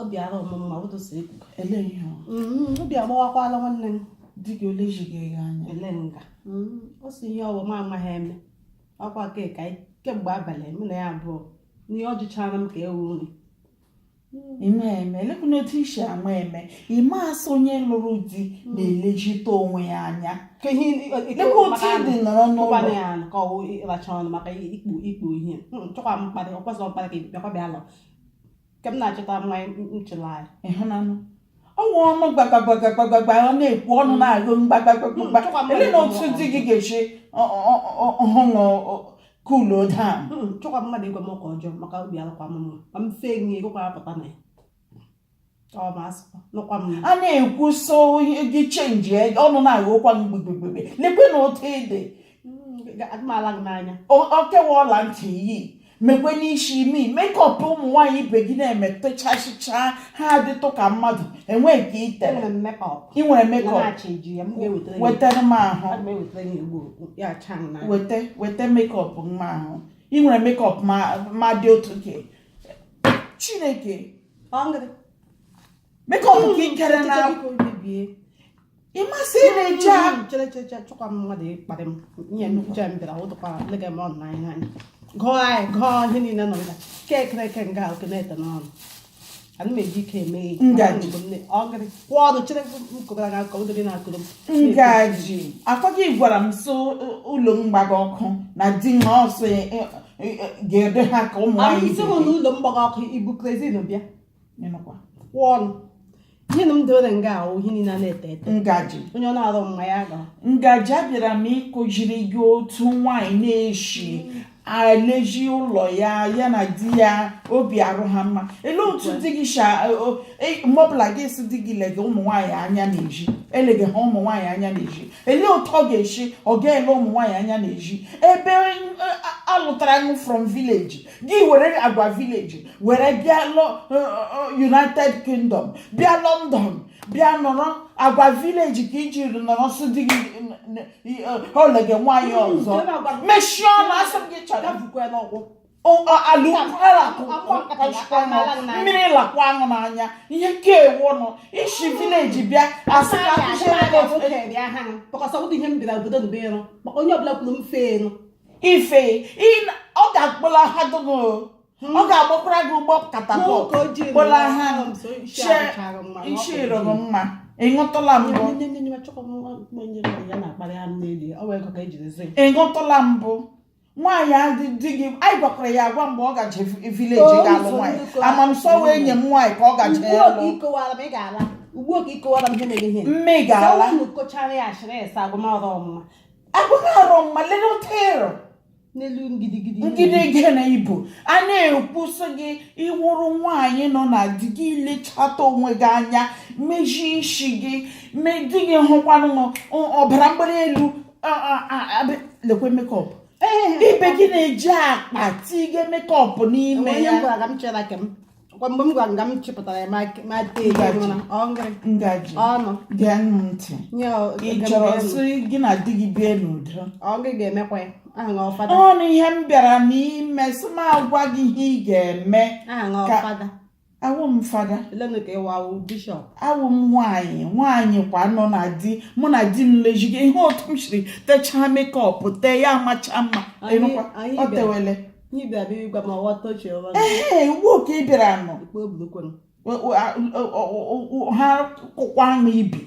obi ara ọmụma otu si ekwu ele ihe ọ mm, obi agbawakwala nwanne m di gị o lezighị ya anya ele nga Mm, ọ sị ihe ọ wụ m amaghị eme ọkwa ka ka anyị- kemgbe abalị mụ na ya abụọ n'ihe ọ jụchara m ka ewu nri ime eme elekwu n'otu isi ama eme ị ma sị onye lụrụ di na-elezite onwe ya anya ka ihe lekwa otu ị dị nọrọ n'ụlọ ụkwana ya ka ọ wụ ịracha ọnụ maka ikpu ikpu ihe chọkwa m mkparị ọkwa sọ mkparị ka bịakwa bịa lọ ka m na-achọta nwa nchụla anyị ịhụnanụ ọnwa ọnụ gbagbagbagbagbagba ọ na-ekwu ọnụ na-agụ mgbagbagbagba elene otu di gị ga-eshi ọhụrụ cool down chọkwa mmadụ ịgwa m ọka ọjọọ maka obi alụkwa m mma ma m fee nye gịkwa apụta na ya a na-ekwu sị gị change e, ọnụ na-aghọkwa m gbegbegbe lekwene otu ị dị okewa ọla ntị yi mekwene isi mee makeup ụmụ nwaanyị ibe gị na-eme techachịcha ha adịtụ ka mmadụ enwe nke i tere ị nwere makeup wetara m ahụ weta weta makeup m ahụ ị nwere makeup ma dị otu ke chineke makeup ka ikere na ịmasị na-eche ahụ chere chere chere chọkwa m mmadụ ịkparị m nye nnukwu chere m bịara ụtụkwa lega m ọnụ n'anya anyị gụọ anyị gụọ ihe niile nọ nga ke ekere eke nga oke na-ete n'ọnụ ana m eji ike eme ihe Ngozi. Mgbe m ne- ọ gịrị kwụọ ọnụ chere m kụbara gị aka ụdịrị na-akụrụ m Ngozi ọkwa gị gwara m sị ụlọ m gbaga ọkụ na di m ọsọ ya ga-ede ha ka ụmụ nwaanyị ị sị hụ na ụlọ m gbaga ọkụ i bu kerosene bịa kwụọ ọnụ ihe na m dewere nga ahụ ihe niile na-ete ete Ngozi onye ọ na-arụ mma ya ga Ngozi abịara m ịkuziri gị otu nwaanyị na-eshi elezi ụlọ ya ya na di ya obi arụ ha mma ele otu di gị sha e, mgbe ọbụla gị asị di gị lege ụmụ nwaanyị anya n'ezi elege ha ụmụ nwaanyị anya n'ezi elee otu ọ ga-eshi ọ ga-ele ụmụ nwaanyị anya n'ezi ebe eh, alụtara gị from village gị were agwa village were bịa eh, eh, united kingdom bịa london bịa nọrọ agwa village ka i ji nọrọ sụ di gị elege nwaanyị ọzọ mechie ọnụ asị m gị chọrọ ala ukwu ala ka ukwu kpachikwa nọ mmiri lakwa aṅụ n'anya ihe nke ewu nọ i si village bịa asị ka akuziere gị otu onye ọbụla kwuru m fee enu ife ọ ga-akpọla ha gụgụ ọ ga-agbakwara gị ụgbọ catapult kpọla ha nchirụrụ mma ị nụtụla mbụ ị nụtụla mbụ nwaanyị adị di gị anyị gwakwara ya agwa mgbe ọ gaje village Oo, ga-alụ ụzọ nwaanyị ndị kọwara. ama m sị ọ wụ enyi m nwaanyị ka ọ gaje ugbu a ka lụ ị kọwara m ị ga-ala ugbu a ka ị kọwara m ihe mere ihe mme ị ga-ala unu kọchara ya ashịrị esa agụmọrụ ọmụma abụghị arọ mma lelụtero n'elu ngidigidi ngide gị na ibu a na-ekwusị gị ị wụrụ nwaanyị nọ na di gị lechata onwe gị anya mezie ishi gị me di gị hụkwanụ ọbara mgbali elu lekwa makeup ibe gị na-eji akpa tige makeup n'ime ya mgbe m gwara nga m chịpụtara ya ma tee ngaji ọnụ gee ntị ị chọrọ sị gị na di gị bie n'udo ọ gị ga-emekwa ya ọnụ ihe m bịara n'ime sị m agwa gị ihe ị ga-eme awụ m fada awụ m nwaanyị nwaanyị kwa nọ na di mụ na di m lejigo ihe otu m shiri techaa makeup tee ya amacha mma o tewele ee uwe oke ị bịara nọ ha kụkwa m ibi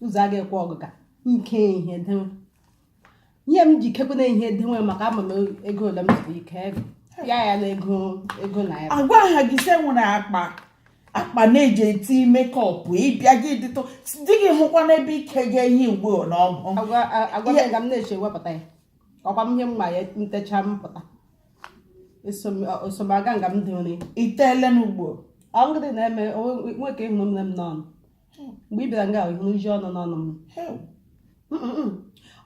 ụzọ a ga-ekwe ọgụ ka nke ihe denwe ihe m ji kekwena ihe denwe maka ama m ego ole m zuru ike ego ya ya na ego ego naira agwaha gị sị e nwere akpa akpa na-eji eti makeup ịbịa gị dịtụ di gị hụkwa n'ebe ike gị ihe ugbo na ọgụ agwa a- agwa m ga m na-eche wepụta ya ọkwa m ihe mma ya ntecha m pụta esomaga nga m dịrị itele n'ugbo ọ ngịrị na-eme nwoke ị hụrụ nne m n'ọnụ mgbe ị bịara nga ị hụrụ iji ọnụ n'ọnụ m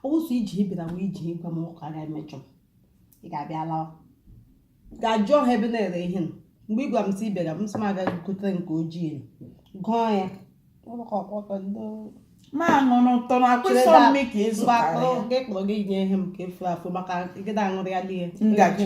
ọ wụ sọ iji bịara wee iji gwa m ụka ga-emejọ ị ga-abịa lawa ga jụọ ha ebe a na-ere ihe nọ mgbe ị gwara m sị ị bịara m sị m agaghị gotere nke ojii gụọ ya ma ṅụrụ ụtọ na akwụsọ mme ka ị zụtara ya gị kpọrọ gị nye ihe m ka efu afụ maka gịda aṅụrịala ihe ngaji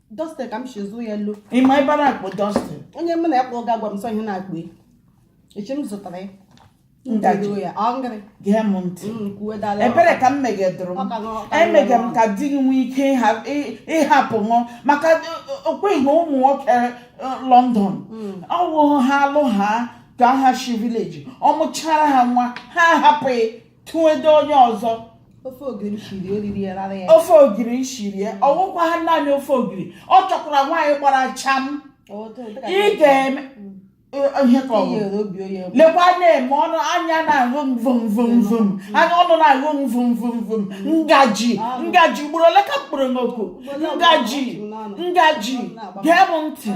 Dalston ka m shi zụ ya elu ị ma ebe a na-akpọ Dalston onye mụ na ya kpọọ ga-agwa m sọ ihe na-akpọ ya echi m zụtara ya Ngaji. Ndedo ya ọ ngịrị gee m ntị Mm, kwuwe dala ebere ka m megedụrụ Ọ ka m ṅụọ, ọ ka m emege m ṅụọ. ka di gị nwee ike ịha- ị- ịhapụ ṅụọ maka okweghị na ụmụ nwoke eh, London ọ wụ ha alụ ha ka ha shi village ọ mụchara ha nwa ha ahapụ gị tụedo onye ọzọ ofe ogiri shiri eriri ya rara ya ofe ogiri shiri ya ọ wụkwa ha naanị ofe ogiri ọ chọkwara nwaanyị gbara cham ị ga-eme ihe ka ọ bụ lekwa na-eme ọnụ anya na-ahụ m vum vum vum anya ọnụ na-ahụ m vum vum vum ngaji ngaji ugboro ole ka m kpọrọ gị oku ngaji ngaji gee m ntị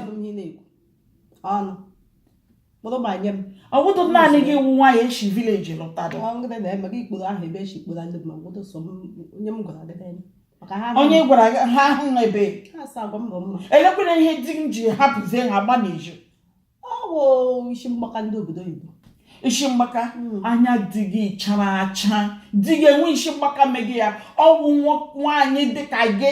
kpụrụ ma nye m ọ wụdụ naanị gị wụ nwaanyị e shi village lụtara ọgụgụ na eme gị ikporo ahụ ebe echi ikporo ndị ma ọgụgụ so onye m gwara gị n'elu maka ha onye gwara gị ha ahụ na ebe ha asa agwa mbọ mma elekwana ihe di m ji hapụzie ha gba n'eju ọ bụ isi mgbaka ndị obodo oyibo isi mgbaka anya di gị chara acha di gị enwe isi mgbaka megị ya ọ wụ nwa- nwaanyị dịka gị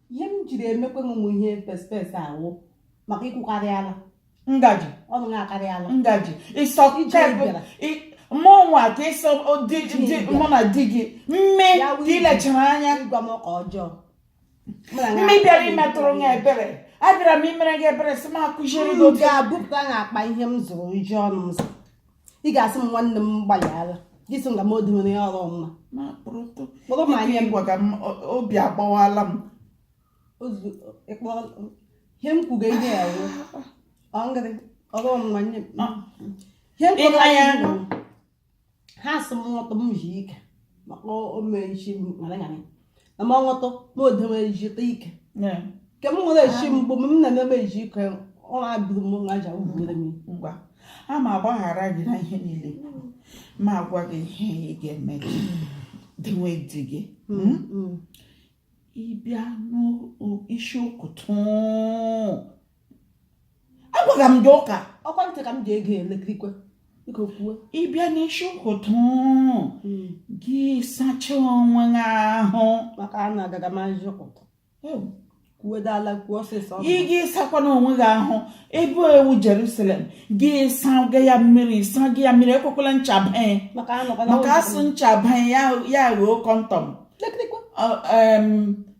ihe m jiri emekwe m ihe pespes ọ wụ maka i kwukarịala ngaji ọnụ m akarịala ngaji ịsọ mmụọ ka ịsọ mụ na di gị mme ka i lechara anya ịgwa m ụka ọjọọ mme bịara imetụrụ m ebere abịara m imere gị ebere sị m akụziri gị otu ga-abụpụta n'akpa ihe m zụrụ iji ọnụ m zụrụ ị ga-asị m nwanne m gbalịala gị sị nga m odumere ya ọrụ mma ma kpụrụtụ kpọrọ m anya ịgwa ka m o- obi agbawala m ozu ịkpọrọ ihe m kwuga ihe ya wụ ọ ngịrị ọrụ mma nye m ihe m kwuga ya wụ ha sị m nwọtọ m ji ike maka o mee isi m ṅara ṅara na m ọṅụtụ na odeme ejite ike Yeah. nke m nwere echi mgbe m na-eme eji ike ọ na-abụrụ m nwa aja ugboro m ngwa a m agbaghara gị na ihe niile m agwa gị ihe ị ga-eme gị dịnwe di gị ị bịa n'isi ụkụtụ agwaga m gị ụka ọ kwa ntị ka m ji ege elekirikwe ị bịa n'isi ụkụtụ hmm. gị sacha onwe gị ahụ maka a na-agaga ma nji ụkụtụ kwuodala kwuo ọsịsọ ị gị sakwana onwe gị ahụ ebe wụ Jerusalem gị saga ya mmiri saga ya mmiri ekwekwala ncha banye maka a sị ncha banye ya ghọọ kọntọm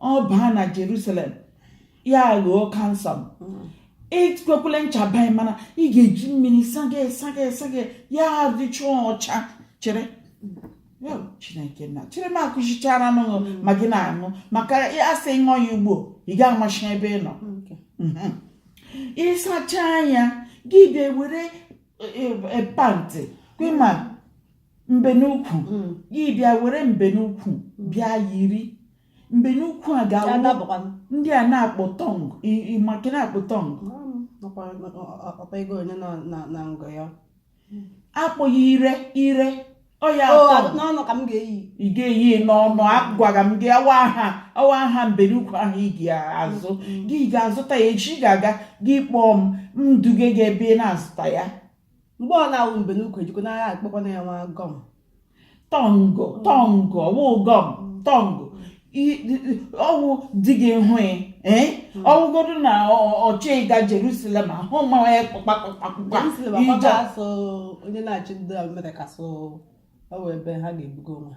ọ baa na Jerusalem ya ghọọ cancer m ekwekwele ncha baa ya mana ị ga-eji mmiri saga saga saga ya dịchaa ọcha chere Chineke na chere m akụchichara anụ mm. ma gị na-aṅụ maka a sị ṅụọ ya ugbo ị ga-amachi ebe ị nọ mhm. ị sacha ya gị bịa were e, e, e, pant kwema mbenukwu mm. gị bịa were mbenukwu mm. bịa yiri mbenukwu a ga-awụ ndị a na-akpọ thong ị ma ka na-akpọ thong akpọghị ire ire ọ ya ị ga-eyi n'ọnụ agwara m gị awa aha awa aha mbenukwu ahụ ị ga-azụ mm. gị ga-azụta ya echi ga-aga gị kpọọ m m duge gị ebe ị na-azụta ya mgbe ọ na-awụ mbe n'ukwu ejikwa n'agha akpọkwana ya nwa gọm tọngụ tọngụ ọwụ gọm tọngụ ọwụ di gị hụ ya eh? hmm. ọ wụgodu na ọchị ịga Jerusalem ahụ mmanwa ya kpakpakpakpakpa ije onye na-achị ndị Amerịka so ọ wụ ebe ha ga-ebugo nwa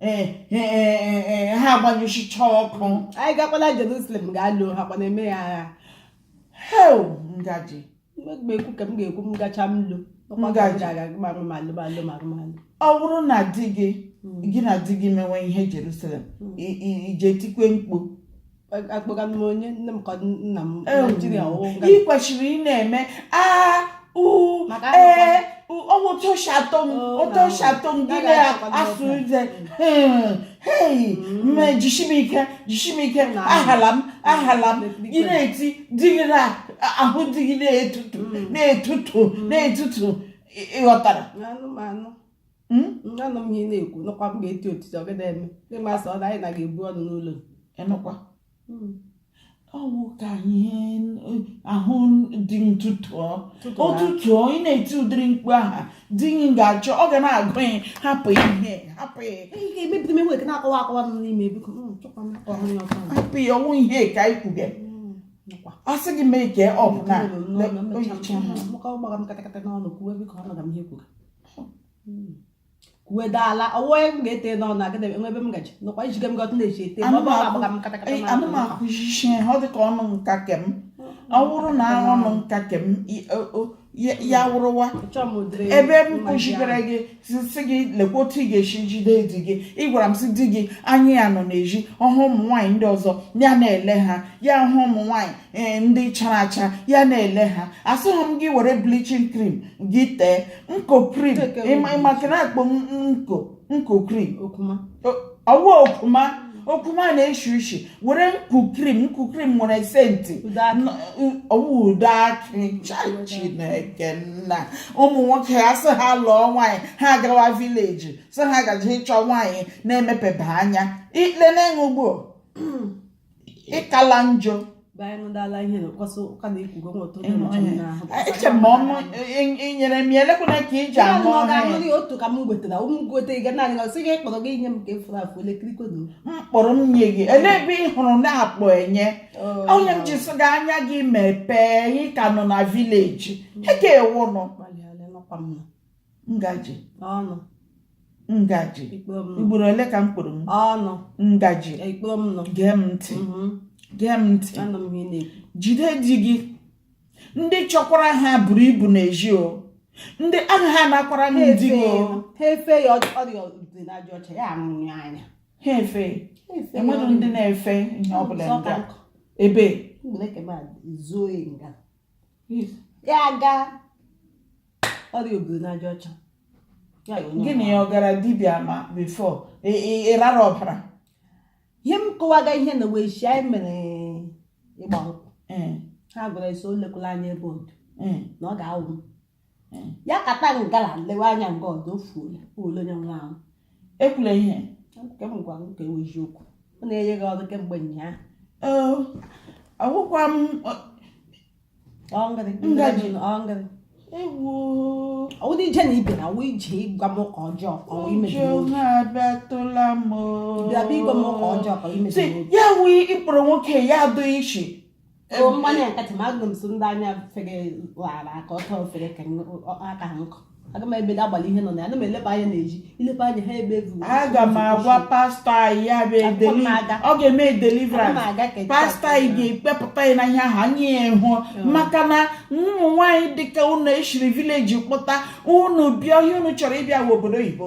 eh, eh, eh, ha agbanyụchicha ọkụ anyị gakwala Jerusalem ga-alụ ha kwana eme ya agha hel ngaji ekwu ka m ga-ekwu m gacha m lu ọ bụrụ na di gị hmm. gị na di gị mewe ihe Jerusalem hmm. ị je tikwe mkpu akpọga m onye nne m ka nna m Ewu. naijiria ọwụ nga ị kwesịrị ị na-eme a u Maka ee ọwụ toshatọ m Oh, na- otoshatọ m gị na- na-asụ na- uze hei mme jishi m ike jishi m ike Na- ahala m ahala m Bikwe. gị na-eti di gị na ahụ di gị na-etutu Mm. na-etutu na-etutu ị- ị ghọtara anụ m anụ hmm? anụ m ihe ị na-ekwu nọkwa m ga-eti otiti ọ gị da eme ịma sọ na anyị na ga-ebu ọnụ n'ụlọ enụkwa hmm. ọwụ ka ihe ahụ dị ntụtụ ụtụtụ ị na-eti ụdịrị mkpu aha di gị ga-achọ ọ ga na-agụ ya hapụ ihe hapụ ya hapụ ya ọwụ ihe ka anyị kwuge a sị gị mee ka ọ bụ na kwuedo ala ọwụwa onye m ga-ete n'ọnụ agada enwe ebe m gaji nọkwa ijige m gọtụ na-eji ete ma ọ bụ agbaga m katakata Ee, ana m akụzichi ha ọ dị ka ọnụ nka kem ọ bụrụ na ọnụ nka kem i- o- o- ya ya wụrụwa Chọọ m ụdịrị ebe m mma kụzigara gị sị sị gị lekwa otu ị ga-esi jide di gị ị gwara m sị di gị anya ya nọ n'ezi ọ hụ ụmụ nwaanyị ndị ọzọ ya na-ele ha ya hụ ụmụ nwaanyị e, ndị chara acha ya na-ele ha asịghị m gị were bleaching cream gị tee nku cream maka na akpọ nku nku cream ọwụ okuma okuma na-eshi ushi were nku cream nku cream nwere senti ọwụ ude akị Chineke nna ụmụ nwoke a sị ha lụọ nwaanyị ha agawa village sị ha gaji ịchọ nwaanyị na-emepebe anya lenenụ ugbuo ị kala njọ eche m ọnụ inyere m ya elekwana ka iji anụ ọhịa otu ka m gwetara ụmụ gote ga naanị ọsị gị kpọrọ gị nye m ka efuru afụ elekirikwe na mkpọrọ m nye gị ele ebe ị hụrụ na-akpọ enye onye m ji sị gị anya gị mepee ị ka nọ na village ị ka wụnụ ngaji ọnụ ngaji ị kpọrọ m nọ ugboro ole ka m kpọrọ m ọnụ ngaji ị kpọrọ m nọ gee m ntị Mhm. gee m ntị anụ m ihe na-ekwu jide di gị ndị chọkwara ha buru ibu n'ezi o ndị ahụ ha nakwara ha di gị o ha efe ya ọ- ọrịa obiri n'aja ọcha ya anwụrụ ya anya ha efe enwere ndị na-efe ihe ọbụla ndị a. ebe zuo nga ya aga ọrịa obiri n'aja ọcha gịnị ya ọ gara dibịa ma before ị rara ọbara ihe m kọwaga ihe na wee shi anyị mere ịgba nkwụ ha gwara esi o lekwala anya ebe ọdọ na ọ ga-anwụ ya kata gala lewe anya nga ọdọ ofuola ole onye nwa ahụ ekwula ihe nke m gwara m ka ewe eziokwu ọ na-enye gị ọrụ kemgbe ụnyaahụ Ee, agwụkwa m ọ- Ọ ngịrị, Ngaji. ọ ngịrị. ewu Ọ dị ije na ibe na wụ ije ịgwa m ụka ọjọọ ka ọ imebi ụjọ m. na-abịatụla m Bịa bịa ịgwa m ụka ọjọọ ka ọ imebi isi m. ya wụ ị kpọrọ nwoke ya adụ ishi mmanya nkatị ma agụrụ m so ndị anya fere ghara aka ọtọ ofere ka aka ha nkụ aga m ebe agbalị ihe nọ na ya ana m eleba anya na-eji ileba anya ha ebe evu aga m agwa pastor anyị ya bụ edeli ọ ga-eme deliverance pastor anyị ga-ekpepụta ya na ihe ahụ anyị ịhụ maka na ụmụ nwaanyị dịka unu eshiri village kpụta unu bịa here unu chọrọ ibiwa obodo oyibo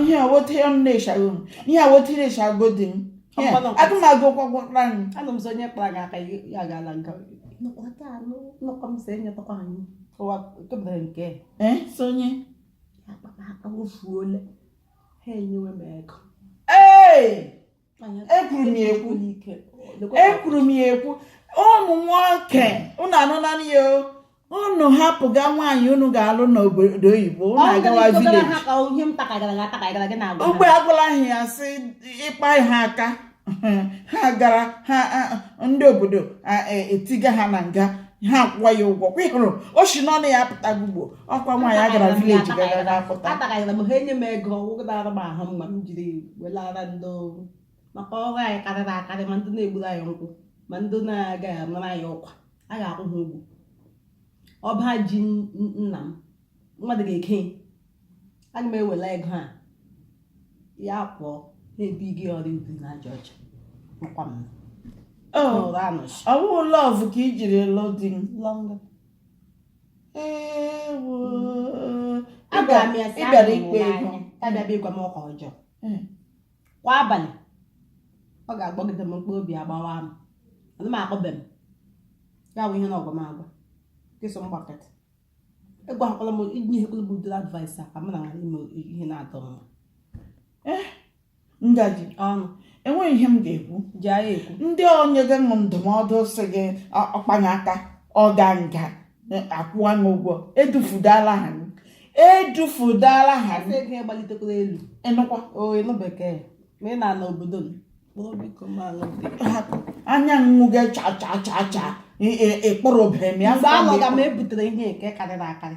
ihe a wote ya m na-echaghị m ihe a wote na-echago di m Ihe a, Ọkpọlọpọ. aga m agụ ụkwọ gwọkpara m anụ m sị onye kpara gị aka ya ya gaala nga nọkọta anụ nọkọ m sị enyetakwa anyị ụwa kemgbe nke ee so onye akpa m aka wofuole ha enyewe m ego ee ekwuru m ya ekwu ekwuru m ya ekwu ụmụ nwoke unu anụla ya o unu hapụga nwaanyị unu ga-alụ n'obodo oyibo unu agawa village ogbe agwala ha ya sị ị kpa ha aka ha gara ha ndị obodo e, etiga ha na nga ha akwụwa ya ụgwọ kwụhụrụ o si n'ọnụ ya apụtago ugbo ọkwa nwaanyị a gara village gara akpụta atagara m ha enye m ego ọ wụgara m ahụ mma m jiri welara ndị oru maka ọrụ anyị karịrị akarị ma ndị na-egburu anyị nkwụ ma ndị na-agaghị anara anyị ụkwa a ga-akwụ ha ụgwọ ọba ji nna m mmadụ ga-eke aga m ewela ego a ya pụọ na-ebi gị ọrịa obiri n'aja ọcha makwa m ọ bụghị love ka i jiri lụ di m agwara m ya sị ịbịara ahụrụ m ikpe n'anya. ihu ya bịa bịa ịgwa m okwu ọjọọ Mm. kwa abalị ọ ga-agbagide m mkpụrụ obi agbawa m ana m akpọbe m ya bụ ihe na ọgwa m agwa kịsọ m gbakọta ịgwakwala m inyekwala m ụdịrị advice a ka m na nwere ime ihe na-atọ mma ngaji ọnụ enweghị ihe m ga-ekwu ji agha ekwu ndị onye gị ndụmọdụ sị gị ọ- ọkpanye aka ọ ga nga akwụwa gị ụgwọ edufudala ha gị. edufudala ha gị. Eze gị gbalitekwala elu ịnụkwa o ịlụ bekee ma ị na-ana obodo m kpụrụ biko ma alụ bekee hapụ anya nwu gị cha cha cha cha ị- ị- ịkpụrụ obere m ya mgbe fụọ m alọga m ịkpụrụ. ebutere ihe nke karịrị akarị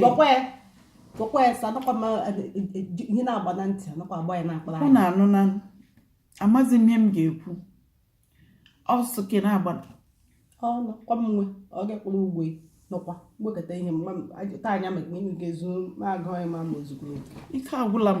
gwakwa ya gwakwa ya sa anakwa ma e, e, e, ihe na-agba na ntị anakwa agba ya na-akpara ọ na-anụ na amaghị m ihe m ga-ekwu ọsọ ka ị na-agba ọ nọkwa m nwe ọ ga-ekpụrụ ụgwọ nọkwa wekọta ihe taa anya maka ime ga-ezu na-agụ anyị ma ma ozugbo ike agwụla m